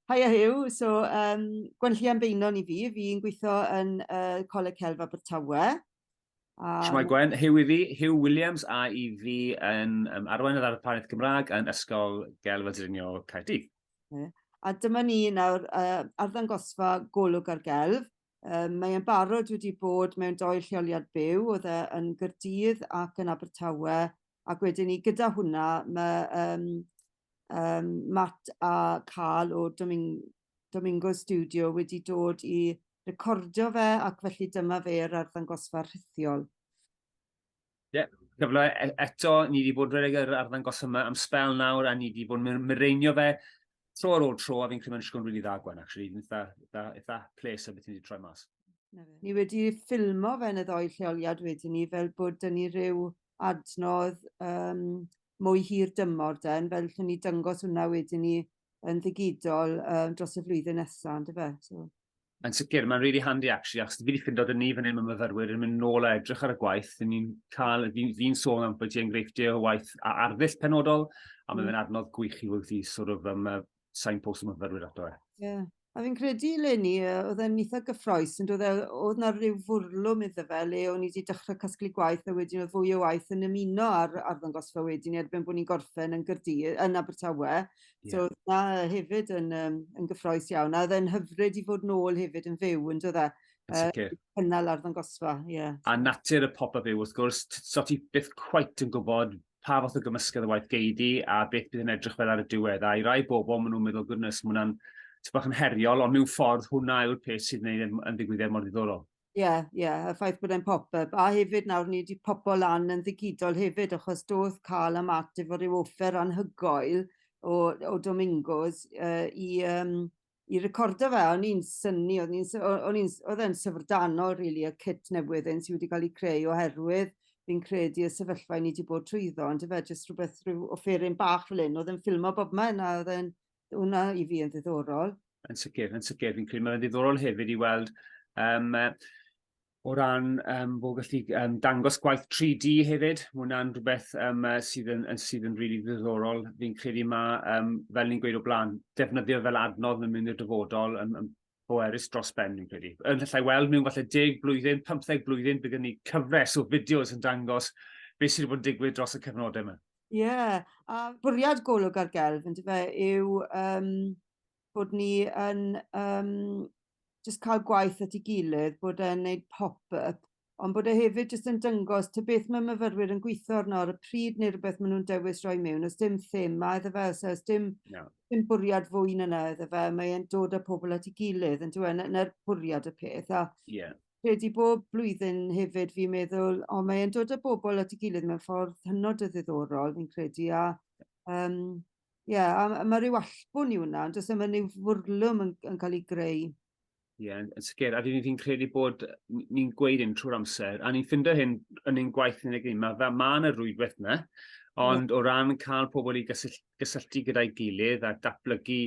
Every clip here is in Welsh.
Haia Huw. So yym gwenllian Beynon i fi. Fi'n gwitho yn yy Coleg Celf Abertawe. A... Shwmae Gwen, Huw i fi, Huw Williams a i fi yn um, arweinydd ar y Parneth Gymraeg yn Ysgol Gelf a Drinio Caerdydd. A dyma ni nawr uh, arddangosfa golwg ar gelf Yym mae e'n barod wedi bod mewn dou lleoliad byw, odd e yn Gyrdydd ac yn Abertawe, ac wedyn 'ny gyda hwnna ma' yym yym Matt a Carl o Doming- Domingo Studio wedi dod i recordio fe ac felly dyma fe yr arddangosfa rhithiol. Ie, cyfle e- eto, ni wedi bod rhedeg yr arddangos yma am sbel nawr, a ni wedi bod yn mireinio fe tro ar ôl tro, a fi'n credu mae'n disgwyl yn rili dda Gwen, actually, fi'n eitha, eitha, eitha ples o beth ni wedi troi mas. Ni wedi ffilmo fe yn y ddoi lleoliad wedyn ni, fel bod dyn ni rhyw adnodd um, mwy hir dymor den, fel lle ni dyngos hwnna wedyn ni yn ddigidol um, dros y flwyddyn nesaf, ynddo fe? So, Yn sicr, mae'n really handy actually, achos fi wedi ffindo dyn ni fan hyn mae myfyrwyr yn mynd nôl a edrych ar y gwaith, dyn ni'n cael, fi'n fi sôn am bod ti'n greifftio o waith a arddull penodol, a mae'n mm. adnodd gwych i wrth i sort of um, uh, sain post y myfyrwyr ato e. Yeah. A fi'n credu le ni, oedd e'n eitha gyffroes, yn dod e, oedd na rhyw fwrlwm iddo fe le o'n i wedi dechrau casglu gwaith a wedyn oedd fwy o waith yn ymuno ar arddangosfa wedyn erbyn bod ni'n gorffen yn Gyrdi, yn Abertawe. So odd 'na yy hefyd yn yym yn gyffrous iawn a odd e'n hyfryd i fod nôl hefyd yn fyw on'd e? Yn sicir. Yy cynnal arddangosfa ie. A natur y pop up yw wrth gwrs t- so ti byth cweit yn gwbod pa fath o gymysgedd o waith gei di a beth bydd yn edrych fel ar y diwedd a i rai bobol ma' nw'n meddwl goodness ma' wnna'n ty' bach yn heriol ond mewn ffordd hwnna yw'r peth sydd neud e'n yn ddigwyddiad mor ddiddorol. Ie ie y ffaith bod e'n pop-yp a hefyd nawr ni 'di popo lan yn ddigidol hefyd achos do'dd Carl a Matt efo ryw offer anhygoel o o Domingos yy i yym i recordo fe a o'n i'n synnu o'n i'n sy- o- o'n i'n s- odd e'n syfrdanol rili y cit newydd hyn sy wedi ga'l 'i creu oherwydd fi'n credu y sefyllfa 'yn ni 'di bod trwyddo on'd yfe jyst rwbeth rhyw offeryn bach fel 'yn odd e'n ffilmo bobman a odd e'n Hwna i fi yn ddiddorol. Yn sicr, yn sicr. Fi'n credu mae'n ddiddorol hefyd i weld um, o ran um, bod gallu um, dangos gwaith 3D hefyd. Mae hwnna'n rhywbeth um, sydd yn, sydd yn really ddiddorol. Fi'n credu mae, um, fel ni'n gweud o blaen, defnyddio fel adnodd yn mynd i'r dyfodol yn, yn boerus dros ben, fi'n credu. Yn llai weld mewn falle 10 blwyddyn, 15 blwyddyn, bydd gen ni cyfres o fideos yn dangos beth sydd wedi bod yn digwydd dros y cyfnodau yma. Ie, a bwriad Golwg ar Gelf yndyfe yw yym bod ni yn yym jyst ca'l gwaith at 'i gilydd bod e'n neud pop yp ond bod e hefyd jyst yn dyngos ta beth ma' myfyrwyr yn gwitho arno ar y pryd ne' rwbeth ma' nw'n dewis roi miwn o's dim thema iddo fe os o's dim... Na. ...dim bwriad fwy na 'na iddo fe mae e'n dod â pobol at 'i gilydd on'd yw e? 'na 'na'r bwriad y peth a... Ie. Credu bob blwyddyn hefyd fi'n meddwl o mae e'n dod â bobl at 'i gilydd mewn ffordd hynod o ddiddorol fi'n credu a yym ie a m- a ma' ryw allbwn i wnna on'd o's e ma' ryw fwrlwm yn yn ca'l 'i greu. Ie yn yn sicir a fi fi'n credu bod n- ni'n gweud hyn trwy'r amser a ni'n ffindo hyn yn ein gwaith ni ma' fel ma' 'na rwydwaith 'na ond o ran ca'l pobol i gysyll- gysylltu gyda'i gilydd a datblygu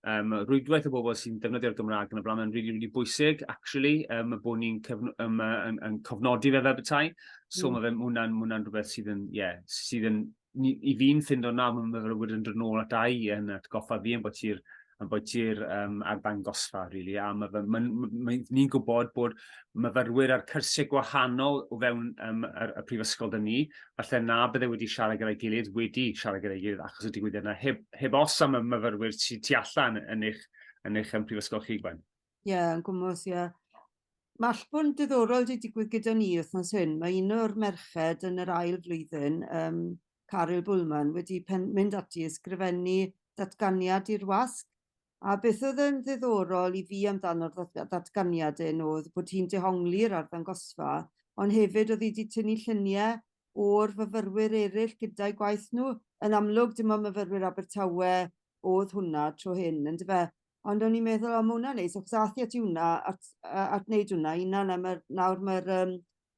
um, rwydwaith o bobl sy'n defnyddio'r Gymraeg yn y blaen. Mae'n rili, really, really bwysig, actually, um, bod ni'n um, yn, yn cofnodi fe fel bethau. So mm. mae fe, hwnna'n hwnna rhywbeth sydd yn, ie, yeah, sydd yn, i fi'n ffindo na, mae'n myfyrwyr yn dod nôl at ai yn atgoffa fi yn bod ti'r ambwytu'r yym arddangosfa rili a ma' fe ma'n m- mae ni'n gwbod bod myfyrwyr ar cyrsie gwahanol o fewn yym yr y prifysgol 'da ni falle na bydde wedi siarad gyda'i gilydd wedi siarad gyda'i gilydd achos y digwyddiad 'na heb heb os am y myfyrwyr sy tu allan yn eich yn eich yym prifysgol chi Gwen. Ie yn gwmws ie. Ma' allbwn diddorol 'di digwydd gyda ni wthnos hyn ma' un o'r merched yn yr ail flwyddyn yym Caryl Bulman wedi pen- mynd ati i ysgrifennu datganiad i'r wasg, a beth oedd yn ddiddorol i fi amdano'r ddat- ddatganiad hyn oedd bod hi'n dehongli'r arddangosfa, ond hefyd oedd hi wedi tynnu llunie o'r fyfyrwyr eraill gyda'i gwaith nhw. Yn amlwg, dim ond myfyrwyr Abertawe oedd hwnna tro hyn, yndyfe? Ond o'n i'n meddwl o ma' wnna'n neis achos ath 'i ati wnna at yy at neud wnna 'i unan a ma'r nawr ma'r yym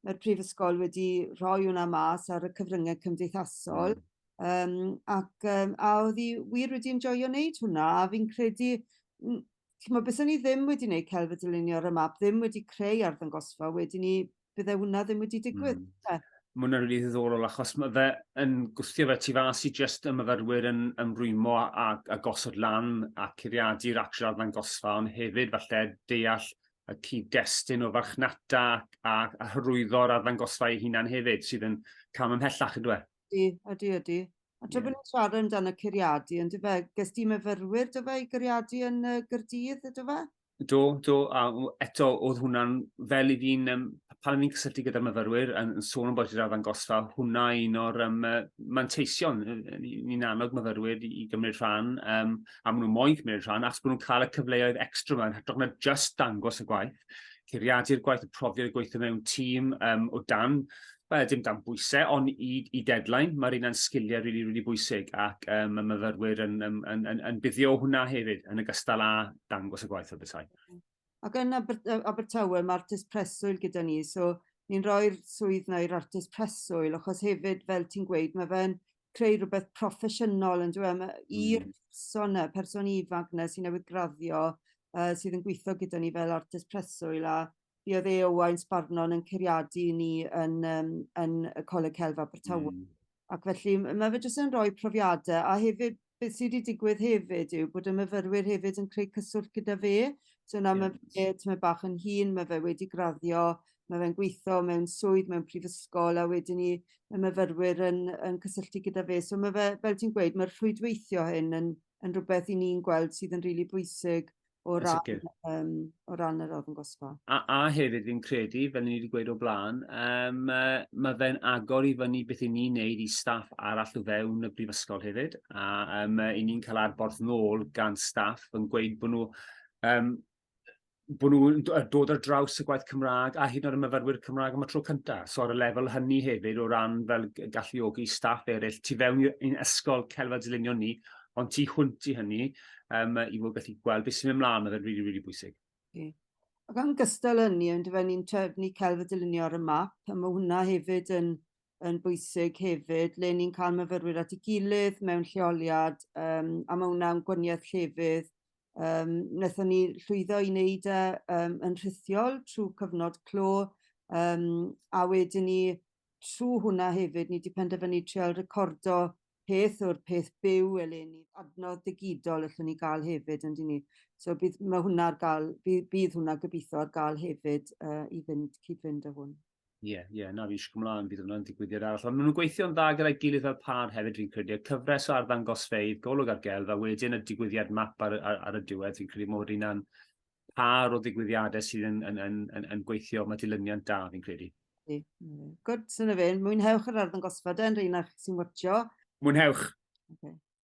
ma'r prifysgol wedi rhoi wnna mas ar y cyfrynge cymdeithasol. Yym ac yym a odd 'i wir wedi enjoio neud hwnna a fi'n credu m- t'mo' bysen i ddim wedi neud celf a dylunio ar y map ddim wedi creu arddangosfa wedyn 'ny bydde hwnna ddim wedi digwydd. Mm. Te. Mae hwnna'n rili ddiddorol achos mae fe yn gwthio fe tu fas i jyst y myfyrwyr yn ymrwymo a, a, a gosod lan a curiadu'r atrau ddangosfa ond hefyd falle deall y cyd-destun o farchnata a, a hyrwyddo'r arddangosfa ei hunan hefyd sydd yn cam ymhellach ydw e? Ydy, ydy, ydy. A tra yeah. bod ni'n siarad amdano curiadu, yn dyfe, ges di myfyrwyr dyfe i guriadu yn y Gyrdydd, dyfe? Do, do, a eto oedd hwnna'n fel i fi'n um, pan o'n i'n cysylltu gyda'r myfyrwyr yn, yn sôn am bod i'r arddangosfa, hwnna un o'r um, manteision. Ni'n annog myfyrwyr i, i gymryd rhan, um, a maen nhw'n moyn cymryd rhan, achos bod nhw'n cael y cyfleoedd extra yma, yn hytrach na just dangos y gwaith, curiadu'r gwaith, y profiad y gweithio mewn tîm um, o dan Wel, dim dan bwysau, ond i, i deadline, mae'r un yn sgiliau rili, really, really bwysig, ac um, y myfyrwyr yn, yn, yn, yn, yn buddio hwnna hefyd, yn y gystal â dangos y gwaith o bethau. Ac yn Abertawe, mae artist preswyl gyda ni, so ni'n rhoi'r swydd na i'r artist preswyl, achos hefyd, fel ti'n gweud, mae fe'n creu rhywbeth proffesiynol yn dweud, e? i'r mm. person na, person ifanc na sy'n newydd graddio, uh, sydd yn gweithio gyda ni fel artist preswyl, a Ie fe a Owain Sparrnon yn curiadu i ni yn yym yn y Coleg Celf Abertawe. Hmm. Ac felly m- ma' fe jyst yn roi profiade a hefyd beth sy 'di digwydd hefyd yw bod y myfyrwyr hefyd yn creu cyswllt gyda fe. So nawr ma' fe tymed bach yn hŷn ma' fe wedi graddio ma' fe'n gweitho mewn swydd mewn prifysgol a wedyn 'ny ma' myfyrwyr yn yn cysylltu gyda fe so ma' fe fel ti'n gweud ma'r rhwydweithio hyn yn yn rwbeth 'yn ni'n gweld sydd yn rili bwysig o ran, um, o ran yr arddangosfa. A, a hefyd fi'n credu, fel ni wedi gweud o blaen, um, uh, mae fe'n agor i fyny beth i ni'n neud i staff arall o fewn y brifysgol hefyd, a um, i ni'n cael arborth nôl gan staff yn gweud bod nhw um, bod nhw'n dod ar draws y gwaith Cymraeg a hyd yn oed y myfyrwyr Cymraeg am y tro cyntaf. So ar y lefel hynny hefyd o ran fel galluogi staff eraill tu fewn i'n ysgol celfa dylunio ni, ond tu hwnt i hynny, um, i fod gallu gweld beth sy'n mynd mlaen, oedd e'n rili, really, really bwysig. Okay. Ac am gystal hynny, yn dyfa ni'n trefnu celf y dylunio ar y map, a mae hwnna hefyd yn, yn bwysig hefyd, le ni'n cael myfyrwyr at ei gilydd mewn lleoliad, um, a mae hwnna'n gwaniaeth llefydd. Um, Nethon ni llwyddo i wneud e um, yn rhithiol trwy cyfnod clo, um, a wedyn ni trwy hwnna hefyd, ni wedi penderfynu trial recordo peth o'r peth byw eleni. Adnodd digidol allwn ni gael hefyd on'd 'yn ni? So bydd ma' hwnna ar ga'l by- bydd hwnna gobitho ar ga'l hefyd yy i fynd cyd-fynd â hwn. Ie ie na fi eisiau cymlaen bydd hwnna'n digwyddiad arall ond ma' nhw'n gweithio'n dda gyda'i gilydd fel pâr hefyd fi'n credu y cyfres o arddangosfeydd golwg ar gelf a wedyn y digwyddiad map ar y ar ar y diwedd fi'n credu ma' hwnna'n pâr o ddigwyddiadau sydd yn yn yn yn yn gweithio, mae dilyniant da fi'n credu. Ie. Gwd, so 'na fe. Mwynhewch yr arddangosfa de yn rheina sy'n watsio. Mwynhewch. Oce.